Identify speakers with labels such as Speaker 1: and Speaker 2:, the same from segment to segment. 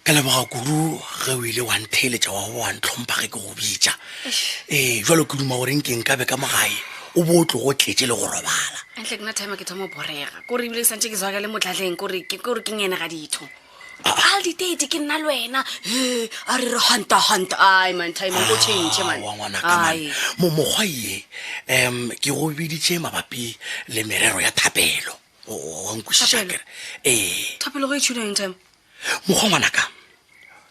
Speaker 1: Ke leboga kudu ge o ile wa ntheeletša wa go wa ntlhompha ge ke go bitša ee jalo ke duma gore nkeng ka be ka mogae o bo o tlogo tletše le go robala antle ke na time ke thoma
Speaker 2: borega kore ebile ke santse ke zwaka le motlatleng kore ke kore ke ngene ga ditho al ditete ke nna le wena e a re re hanta hanta ai man time o change man wa ngwana ka man mo
Speaker 1: mokgwa ye em ke go biditše mabapi le merero ya thapelo wa nkwešiša kere ee
Speaker 2: thapelo go e tšhuna eng time mokgwa ngwanaka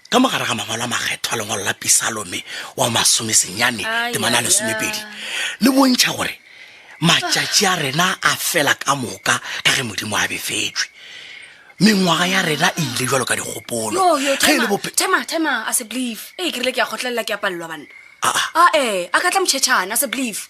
Speaker 1: ka mogare ga mangwalo a makgethwa lengwalo la pisalome wa masome senyane temane a lesomepedi le bontšha gore matšatši a rena a fela ka moka ka ge modimo a befetswe mengwaga ya rena e ile jalo ka dikgopolo a
Speaker 2: se believe ee ke rile ke a kgotlelela ke a palelwa banna ae a ka tla motšhetšhane a se believe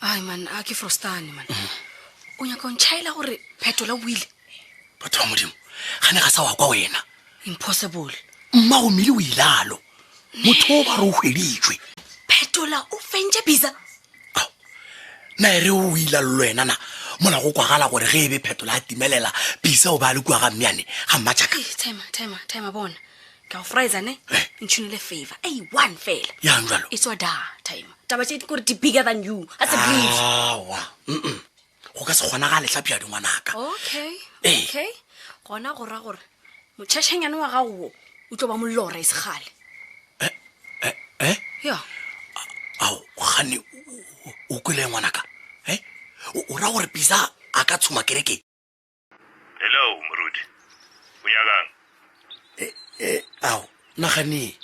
Speaker 2: ai man a ke frostane man o nyaka o ntšhaela gore phetola o buile batho ba modimo
Speaker 1: ga ne ga sa wa kwa wena impossible
Speaker 2: mma o mmele
Speaker 1: o ilalo motho o ba re o hweditswe phetola
Speaker 2: o fentše bisa
Speaker 1: na e re o ilallo wena na mola go kwagala gore ge e be phetola a timelela bisa o ba le kua ga mmeane ga mmatšaka
Speaker 2: bona ke a o frisa ne ntšhinile favor a one fela yang jalo e tswa da
Speaker 1: time
Speaker 2: taba tše di kore di bigger than you a se breeze awa mm-mm.
Speaker 1: go ka se kgona ga letlhapi ya dingwanaka okay Ee. okay
Speaker 2: gona go ra gore motšhašhanyane wa gago wo o tlo ba molora e segale eh yo
Speaker 1: ao gane o kwele ngwanaka e o ra gore pisa a ka tshuma kerekeng Hello,
Speaker 3: moruti. O nyakang? E, e, ao,
Speaker 1: nagane.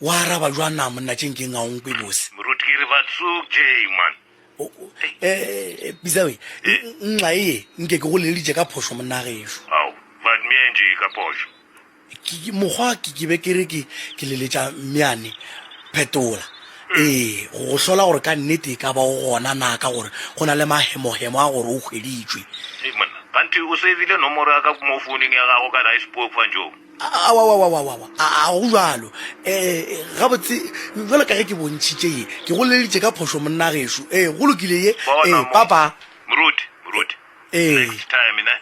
Speaker 1: Wa araba jwa na monna tšeng ke ngaong pe bose. Moruti ke re ba tsuk
Speaker 3: je man. O o e
Speaker 1: bizawe. Nxa e nke ke go leleditše ka phošo monna gešo. Ao, ba dmeng
Speaker 3: je ka phošo. mokgwa
Speaker 1: ke ke be ke re ke ke leletša mmeane phetola ee go go hlola gore ka nnete e ka ba o gona na ka gore go na le mahemohemo a gore o hweditšwe Hey, monna kganthe
Speaker 3: o sevile nomoro ya ka mo founeng ya gago kana e sepoe kgwanjong awawawawawa
Speaker 1: a a go jalo um gabotse jalo ka ge ke bontšhitše ye ke go leleditše ka phošo monnagešu ee go lokile ye Bona ee mo. papa moruti
Speaker 3: moruti Ee. next time ne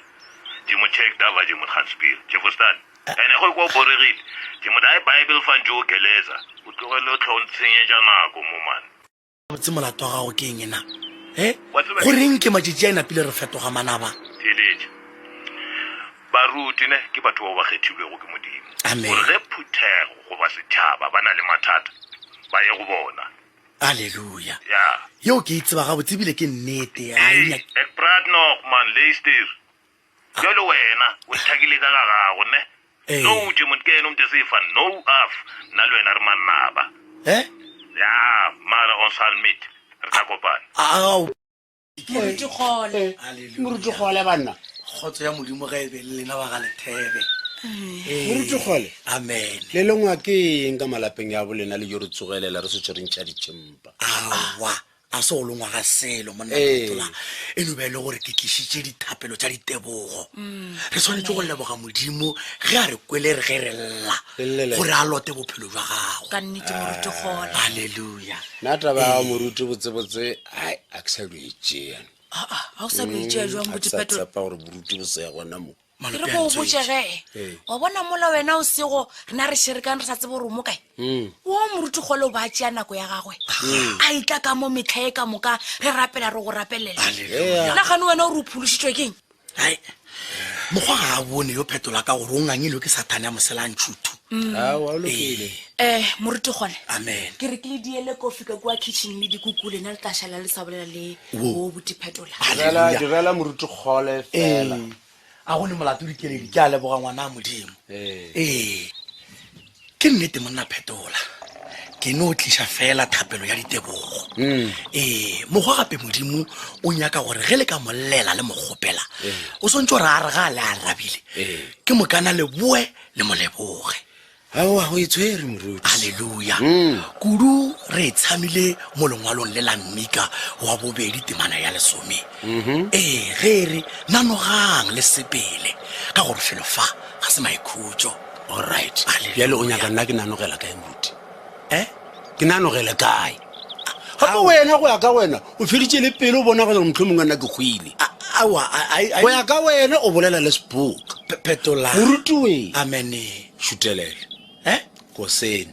Speaker 3: Ke mo check da vaje mo transpire. Ke fostan. Ene go kwa boregile. Ke mo dae Bible fan jo geleza. O tlogele o tlhong tshenyeja nako mo man. Botse molato
Speaker 1: wa gago ke eng na? Eh? Go reng ke majiji a inapile re fetoga manaba? Theeletša.
Speaker 3: Baruti ne ke batho bao ba kgethilwego ke Modimo. Amen. Gore ge phuthego goba setšhaba ba na le mathata, ba ye go bona. Aleluya!
Speaker 1: Ya. Yeo ke e tseba gabotse, e bile ke nnete. A e Hei, ek praat
Speaker 3: nog, man, luister. Bjalo wena, o ithakile ka ga gago, ne? Ee. Nou, tše mot ke yena o ntese fan, nou, af, nna le wena re mannaba. Eh? Ya, mara ons sal meet. Re tla kopana. A, a, a, o. Moruti Kgole.
Speaker 4: Haleluya. moruti kgole banna kgotso ya modimo
Speaker 1: ga e be le lena ba ga lethebe Ee. Moruti
Speaker 4: Kgole. amen le lengwa
Speaker 1: ke
Speaker 4: eng ka malapeng ya bolena le jo re tsogelela re se tshwere ntšha ditšhempa awa
Speaker 1: a se go longwa ga selo monna Ee. Matola. e no ba e le gore ke tlišitše dithapelo tša ditebogo re swanetše go leboga modimo ge a re kwele re ge re lla Re llele. gore a lote bophelo jwa gago Ka nnete Moruti
Speaker 2: Kgole. halleluja nna
Speaker 1: taba ya gago
Speaker 4: moruti botsebotse ai a ke sa lo e tšea aa ga o sa
Speaker 2: lo e tšea jwang botipetolo tsepa gore boruti
Speaker 4: bo se ya gona mo ke re go o botšege
Speaker 2: Ee. wa bona mola wena o sego rena re šerekang re sa tsebe gore o mo kae Mm. wo moruti kgole o ba tšea nako ya gagwe a itla ka mo metlha e ka moka re rapela re go rapelela Hallelujah. nagane wena o re o phološitšwe keng hai
Speaker 1: mokgwa ga a bone yo phetola ka gore o ngangilwe ke sathane ya moselantšhuthu mm. um eh,
Speaker 2: moruti gone amen ke re ke le
Speaker 1: diele
Speaker 2: kofi ka kua kitchen le dikukule na le tla šala le sa bolela le o boti phetola direla
Speaker 4: moruti kgole fela a go ne
Speaker 1: molato dikeledi ke a leboga ngwana a modimo ee ke nnete monna phetola ke no o tliša fela thapelo ya ditebogo mm. ee mokgwa gape modimo o nyaka gore ge le ka mollela le mokgopela o swantse gore a re ga le a rabile ke mokana leboe le moleboge aowa
Speaker 4: go e tshwere moruti halleluja mm.
Speaker 1: kudu re e tshamile mo lengwalong le la mmika wa bobedi temana ya lesome mm-hmm. ee ge e re nanogang le sepele ka gore felo fa ga se maikhutso Alright, Kgale,
Speaker 4: bjale o nyaka nna ke nanogela kae moruti? Eh? Ke nanogele kae? Gape Ao. wena go ya ka wena o feditše le pelo o bona gore motlho mongwe nna ke hwile. A- Awa, a- a- a- Go ya ka wena o bolela le seboka. Pe- Petola. Moruti wee. Amene, šutelele. Eh? Kosene.